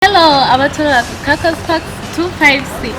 Hello, abatwala ku Cacos Park 256.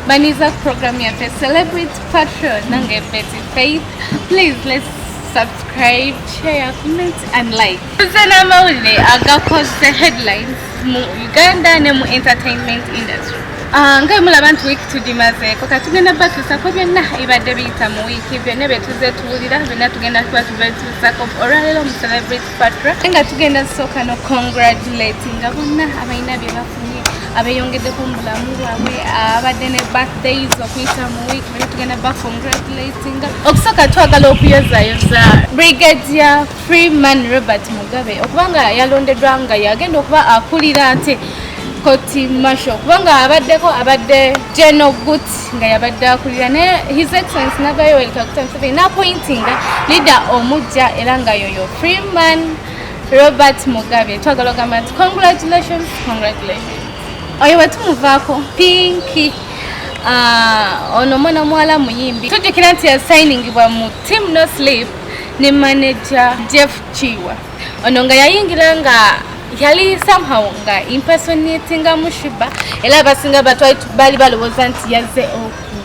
Baniza program ya Fe Celebrity Patron nange Betty Faith. Please let's subscribe, share, comment and like. Zana mawule agakos the headlines mu Uganda ne mu entertainment industry. Ah, nga mula bantu week to dimaze ko katugenda batu sako byonna ibadde biyita mu week byonna bye tuze tuwulira byonna tugenda kuba tuve tusako olwaleero mu celebrity Fatra nga tugenda sooka no congratulatinga bonna abalina bye bafunye abeyongeddeko mu bulamu bwabwe abadde ne birthdays okuyita mu week bali tugenda ba congratulatinga okusooka twagala okuyozayoza brigadier freeman robert mugabe okuba nga yalondeddwa nga yagenda okuba akulira ate koti masho kubanga abaddeko abadde geno guti nga yabadde akulira ne his excellence nava yoweri kaguta museveni napointinga leader omujja era nga yoyo freeman robert mugabe twagala ogamba nti congratulations congratulations oyo wetumuvaako pinki ah, ono mwana omuwala muyimbi tujjukira nti yasayiningibwa mu team no sleep ne manager jeff kiwa ono nga yayingira nga yali somehow nga impersonatinga mushiba era abasinga batwali bali balowooza nti yazze oku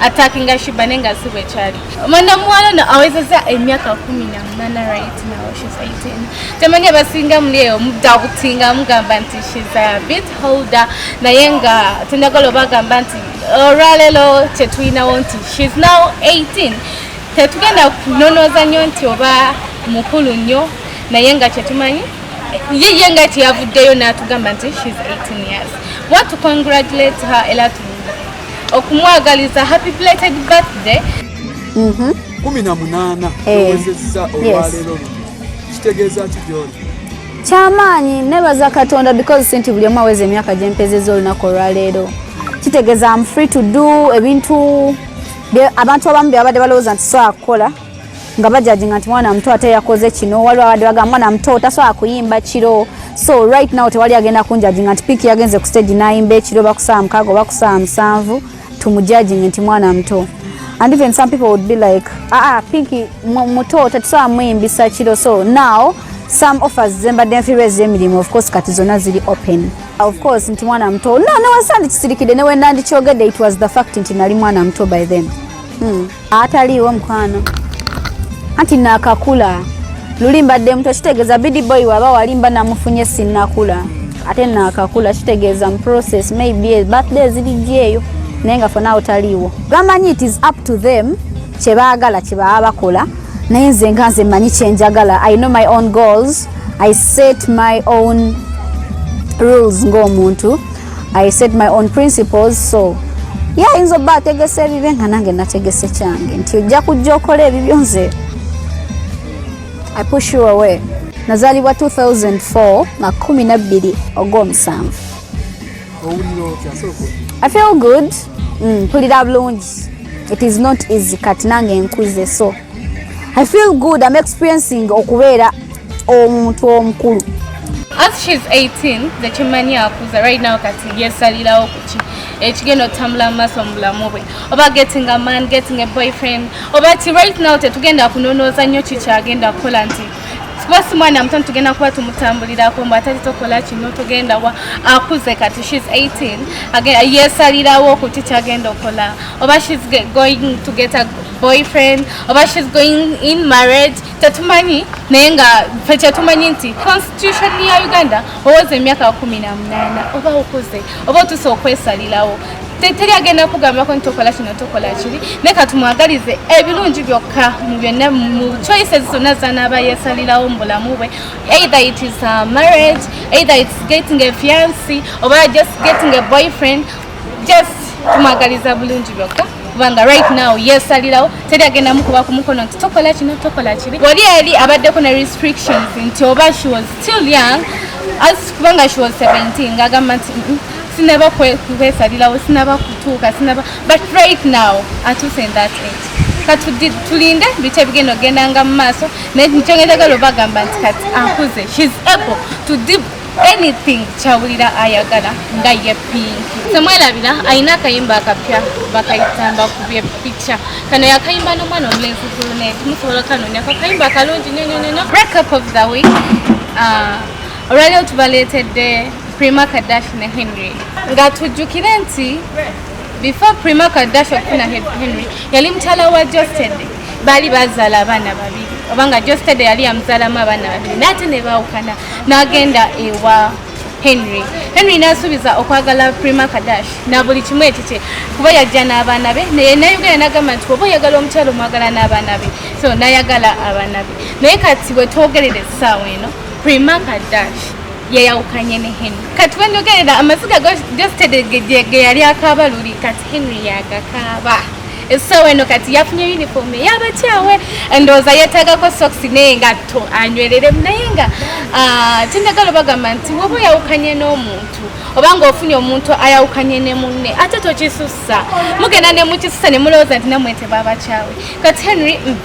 attackinga shiba naye nga si bwekyali omwana omuwala no awezeza emyaka kumi na munana right now shes 18 temanyi abasinga muli eyo mudabutinga mugamba nti shes a bit holder naye nga tenagala obagamba nti olwalelo kyetulinawo nti shes now 18 Tetugenda kunonooza nnyo nti oba mukulu nnyo naye nga kyetumanyi ye ye nga teyavuddeyo n'atugamba nti she's 18 years want to congratulate her ela okumwagaliza happy belated birthday mm-hmm. kumi na munaana eh. owezezza olwaleero luno kitegeeza ki gyoli kyamaanyi nebaza katonda because sinti buli omu aweza emyaka gyempezeza olunaku olwaleero kitegeeza am free to do ebintu abantu abamu bebabadde balowooza nti sobola kukola nga bajajinga nti mwana muto ate yakoze kino waliwo abadde baga mwana muto tasobola kuyimba kiro so right now tewali agenda kunjajinga nti piiki yagenze ku stage nayimba ekiro bakusaa mukaga oba kusaa musanvu tumujajinge nti mwana muto and even some people would be like aa ah, ah, piiki muto tetusobola muyimbisa kiro so now some offers zembadde nfiirwa ez'emirimu of course kati zonna ziri open Of course nti mwana muto. No, no wasandi kisirikide ne wenda ndi kyogede it was the fact nti nali mwana muto by then. Hmm. Atali wo mkwano. Anti nakakula. Luli mbadde muto kitegeza bidi boy waba walimba namufunye sinakula. Ate nakakula kitegeza mu process maybe birthday zili jeyo. Nenga for now taliwo. Gamanyi it is up to them. Chebagala chebaa bakola. naye nze nga nze manyi kyenjagala i know my own goals i set my own rules ng'omuntu i set my own principles so ye ayinza obba ategese ebibe nga nange nategese kyange nti ojja kujja okola ebibyo nze i push you away nazaalibwa 2004 makumi nabbiri ogw'omusanvu I feel good. Mm, pull it up loans. It is not easy cut nange nkuze so. I feel good. I'm experiencing okubeera omuntu omukulu. As she's 18, the chimani akuza right now kati yesalira okuchi. Ekigeno tamla maso mulamu bwe. Oba getting a man, getting a boyfriend. Oba ti right now tetugenda kunonoza nyo chicha agenda kola nti. kuba si mwana muto tugenda kuba tumutambulirako mbu atali tokola kino tugenda wa akuze kati shes 18 yesalirawo okuti kyagenda okola oba shes going to get a boyfriend oba shes going in marriage tetumanyi naye nga fe kyetumanyi nti constitution ya uganda owoza emyaka kumi na munaana oba okuze oba otuse okwesalirawo teri agenda kugambako nti tokola kino tokola kiri naye katumwagalize ebirungi byokka mu byonna mu choices zonna zanaaba yesalirawo mu bulamu bwe either it is a marriage either it's getting a fiancy oba just getting a boyfriend just tumwagaliza bulungi byokka kubanga right now yesalirawo teri agenda mukuba ku mukono nti tokola kino tokola kiri wali eri abaddeko ne restrictions nti oba she was still young as kubanga she was 17 ngagamba nti mm, sinaba kwesalirawo sinaba kutuuka sinaba but right now atuuse in that age katulinde biki ebigenda okugendanga mu maaso naye nikyongezagala obagamba nti kati akuze shes able to deep anything kyawulira ayagala nga ye pinki semwerabira alina akayimba akapya bakayitamba ku byepica kano yakayimba n'omwana omulenzi gulunet musobola okanonyako akayimba akalungi nyonyonyono breakup of the week uh, olwaliro tubaleetedde prima kadashi ne henry nga tujjukire nti before prima kadashi okufuna henry yali mukyala wa jostede baali bazaala abaana babiri obanga jostede yali yamuzaalamu abaana babiri naate ne baawukana n'agenda ewa henry henry nasuubiza okwagala prima kadash na buli kimu ekikye kuba yajja n'abaana be naye nayogera nagamba nti oba oyagala omukyalo omwagala n'abaana be so nayagala abaana be naye kati bwetwogerera essaawa eno Prima Kadash yeyawukanye ne Henry kati wenyogerera amaziga gositedege yali akaaba luli kati Henry yagakaaba essaawa eno kati yafunye uniform eyabakyawe endowooza yeetagako socks naye nga to anywereremu naye nga ah, kyendagala bagamba nti woba oyawukanye n'omuntu oba ng'ofunye omuntu ayawukanye ne munne ate tokisussa mugenda ne mukisussa ne mulowooza nti namwe tebabakyawe kati henry mm,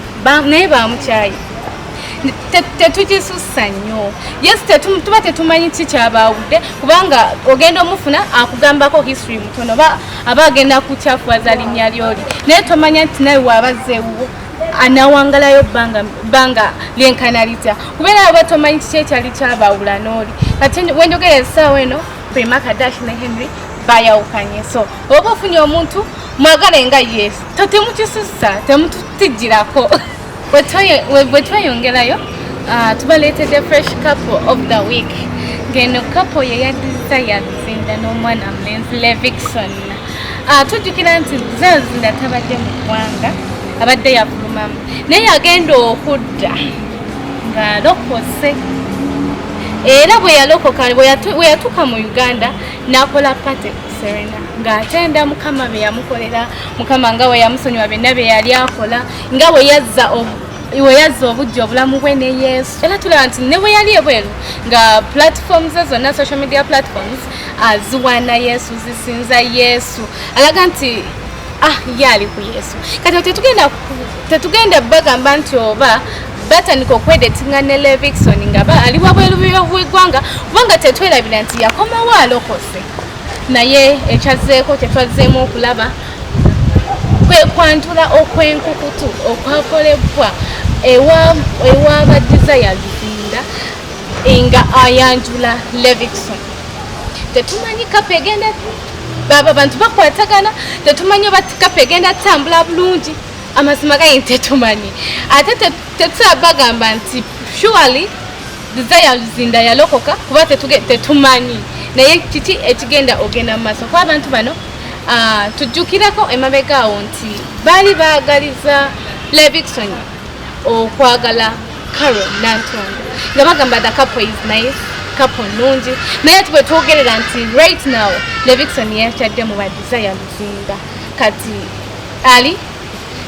naye bamukyaye tetugisussa nnyo yes tuba tetumanyi ki kyabaawudde kubanga ogenda omufuna akugambako history mutono oba aba agenda kukyafuwaza linnya lyoli naye tomanya nti nawe waabazzeewuwo anawangalayo bbanga lyenkana litya kubeera oba tomanyi kiki ekyali kyabaawula n'oli kati wenjogera esaawa eno prima kadash ne henry bayawukanye so oba ofunye omuntu mwagale nga yesu totemukisussa temututijjirako bwe tweyongerayo ah, tubaleetedde fresh couple of the week ngeno couple ye ya desire luzinda n'omwana mulenzi levixon ah, tujjukira nti desire luzinda tabadde mu ggwanga abadde yafulumamu naye yagenda okudda ng'alokose era bwe yalokoka bwe yatuuka mu uganda n'akola pate ku serena ng'atenda mukama bye yamukolera mukama nga we yamusonyiwa byonna bye yali akola nga bwe yazza iwe yazza obujja obulamu bwe ne yesu era tulaba nti ne bwe yali ebweru nga platforms ze zonna social media platforms aziwaana yesu zisinza yesu alaga nti ah ye ali ku yesu kati tetugenda tetugenda bagamba nti oba batandika okwedetinga ne levixon nga ali wabweru bwegwanga kubanga tetwerabira nti yakomawo alokose naye ekyazeeko tetwazzeemu okulaba kwe kwantula okwenkukutu okwakolebwa ewa ba desire luzinda nga ayanjula levison tetumanyi kapa egenda baba abantu bakwatagana tetumanyi oba kapa egenda tutambula bulungi amazima gayi tetumanyi ate tetusaba bagamba nti surely desire luzinda yalokoka kuba tetumanyi naye kiki ekigenda ogenda mu maaso kuba abantu bano Ah, tujjukirako emabega awo nti baali baagaliza levixon okwagala caro nantongo nga bagamba the couple is nice couple nungi naye ati bwetwogerera nti right now levixon yakyadde mu badesire luzinda kati ali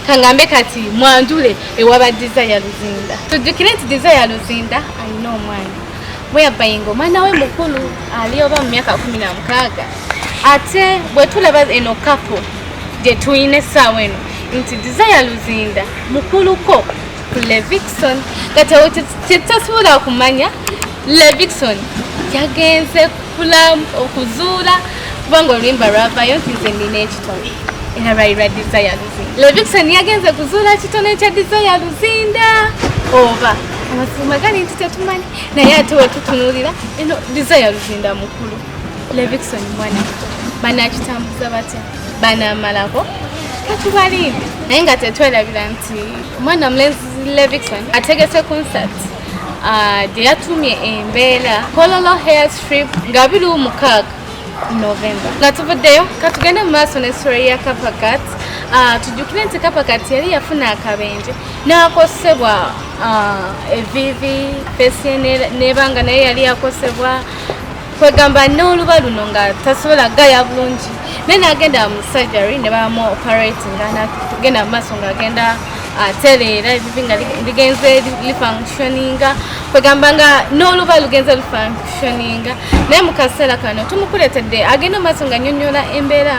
kangambe kati mwanjule ewa badesire luzinda tujjukire nti desire luzinda alina omwana whereby ng'omwana we mukulu ali oba mu myaka kumi na mukaaga ate bwe tulaba eno kapo gye tulina essaawa eno nti desire luzinda mukuluko ku levixon nga kyetasobola kumanya levixon yagenze okuzuula kubanga oluyimba lwavayo nti nze nina ekitone era lwali lwa desire Levixen yagenze kuzuula kitone kya Desire Luzinda oba amazima gali nti tetumanyi naye ate wetutunulira eno Desire Luzinda mukulu Levixen mwana banakitambuza batya banamalako katubalinde naye nga tetwerabira nti omwana mulenzi Levixen ategese concert ah, gye yatumye embeera kololo hair strip nga biri omukaaga novemba nga tuvuddeyo katugende mu maaso ne story ya kapakat ah, tujjukire nti kapakat yali yafuna akabenje n'akosebwa ah, evivi fesi nebanga naye yali yakosebwa kwegamba n'oluba luno nga tasobola gaya bulungi naye nagenda mu surgery ne bamu operatinga nagenda mu maaso ngaagenda ate leero ebibi nga ligenze lifunctioninga kwegamba nga n'oluba lugenze lufunctioninga naye mu kaseera kano tumukuletedde agenda maaso nga nyonyola embeera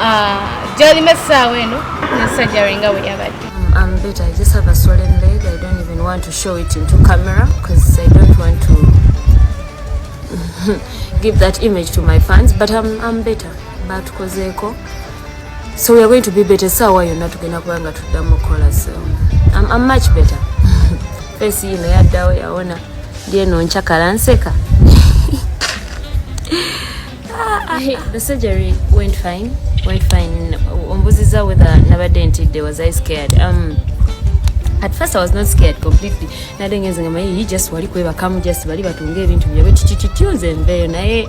ah, gyalimu essaawa eno nesajjari nga bwe yabadde I'm better. I just have a swollen leg. I don't even want to show it into camera because I don't want to give that image to my fans. But I'm, I'm better. But Kozeko. so we are going to be better sawa yonna tugenda kuba nga tuddamu okukola so I'm, I'm much better face yino yaddawo yawona lyeno nkyakala nseka the surgery went fine went fine ombuziza whether nabadde ntidde was i scared um, at first i was not scared completely nadengenze nga maye just wali kwebakamu just bali batunga ebintu byabwe tititityo nze nveeyo naye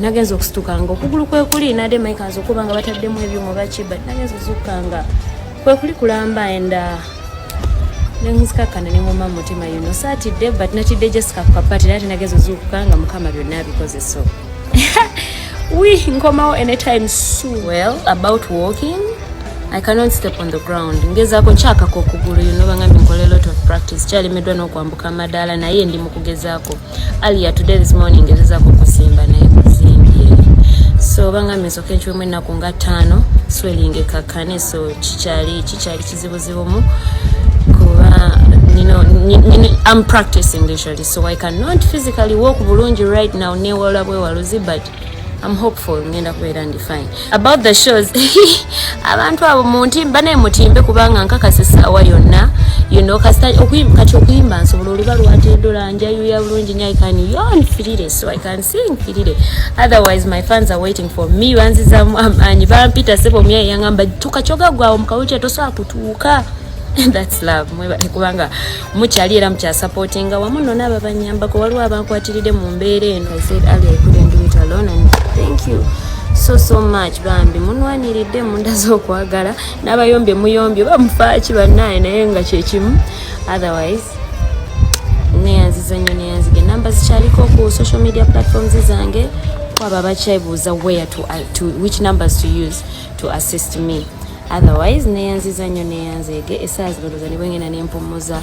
nagenza okusitukanga okugulu kwekuli nade mike aza okuba nga bataddemu ebyuma baki but nagenza ozukanga kwekuli kulamba and uh, nenzikakkana nengoma mu mutima yuno saatidde but natidde jessica ku kapati naye tenagenza ozuukuka nga mukama byonna abikoze so wi nkomawo anytime so well about walking i cannot step on the ground ngezaako nkyakako okugulu yuno bangambye nkola lot of practice kyalemeddwa n'okwambuka amadaala naye ndi mu kugezaako Alia today this morning ngezezako kusimba naye kusimbye so banga misoka enkiwemu ennaku nga ttaano swelling ekakkane so kikyali kikyali kizibuzibumu kuba nino am practicing literally so i cannot physically walk bulungi right now newola bwewaluzi but I'm hopeful ngenda kubeera ndi fine about the shows abantu abo muntimba naye mutimbe kubanga nkakasa essaawa yonna you know kasita okuyimba kati okuyimba nsobola oluba lwatedola njayuya bulungi nyo i can yon firire so i can sing firire otherwise my fans are waiting for me banzizamu amaanyi bampita sebo myaye yangamba tuka kyoga gwawo mukawulukya tosobola kutuuka that's love mwebale kubanga mukyali era mukyasapootinga wamu nno naabo abanyambako waliwo abankwatiride mu mbeera eno i said ali i couldn't do it alone and thank you so so much bambi munwaniridde munda z'okwagala n'abayombye muyombye oba mufaaki bannaaye naye nga kyekimu otherwise neyanziza nnyo neyanzige namba zikyaliko ku social media platforms zange kwabo abakyebuuza where to, uh, to which numbers to use to assist me otherwise neyanziza nnyo neyanzeege esaawa zino loza nibwengenda nempumuza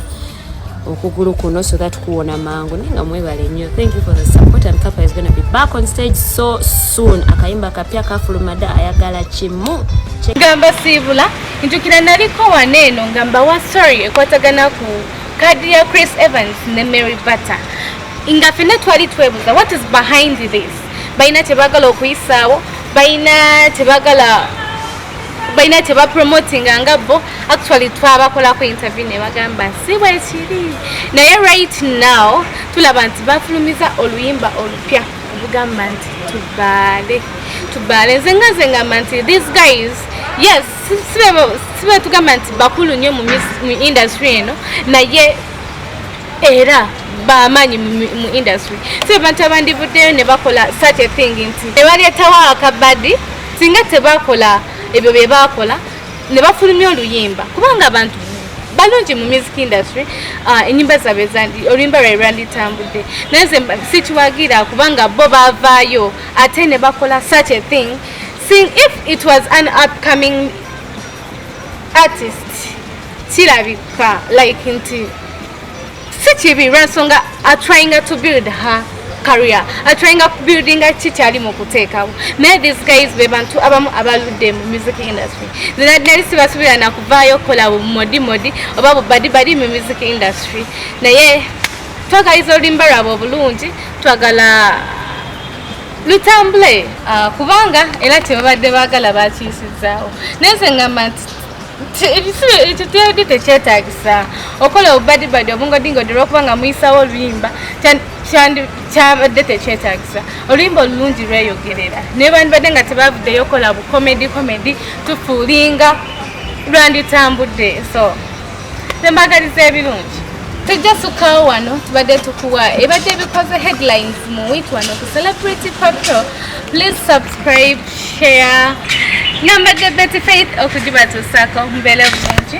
okugulu kuno so that kuwona mangu naye nga mwebale nnyo thank you for the support and kappa is gonna be back on stage so soon akayimba kapya kafulumada ayagala kimu gamba siibula ntukira naliko wana eno nga mbawa sorry ekwatagana ku kadi ya chris evans ne mary butter nga fenna twali twebuza what is behind this balina kyebagala okuyisaawo balina kyebagala balina kyebapromotinga nga bo actually twabakolako interview nebagamba si bwekiri naye right now tulaba nti bafulumiza oluyimba olupya olugamba nti tubaale tubaale nze nga nze ngamba nti these guys yes sibe tugamba nti bakulu nnyo mu industry eno naye era bamaanyi mu industry so abantu abandivuddeyo ne bakola such a thing nti nebaleetawo akabadi singa tebakola ebyo bye bakola ne bafulumya oluyimba kubanga abantu balungi mu music industry ah, enyimba zabe oluyimba lwae lwanditambudde naye ze sikiwagira kubanga bo bavaayo ate ne bakola such a thing seeing if it was an upcoming artist kirabika like nti si kibi lwensonga atryinga to build her career atryinga kubuildinga ki kyali mu kuteekawo naye these guys be bantu abamu abaludde mu music industry zina nali sibasubira nakuvaayo okukola bumodimodi oba bubadibadi mu music industry naye twagaliza oluyimba lwabwe obulungi twagala lutambule ah, kubanga era kyebabadde baagala bakiisizaawo naye nze ngamba nti ebisulo ekyo teyadde tekyetagisa okola obubadibadi obungodingodde olwokubanga muyisawo oluyimba kyabadde tekyetagisa oluyimba olulungi lweyogerera naye bandibadde nga tebavuddeyo okola bukomedi komedi tufuulinga lwanditambudde so Tembagaliza ebirungi. Tujja sukawo wano tubadde tukuwa ebadde ebikoze headlines mu week wano ku Celebrity Patrol. Please subscribe, share. Nambadde Betty Faith okugibatuusaako mubeere bulungi.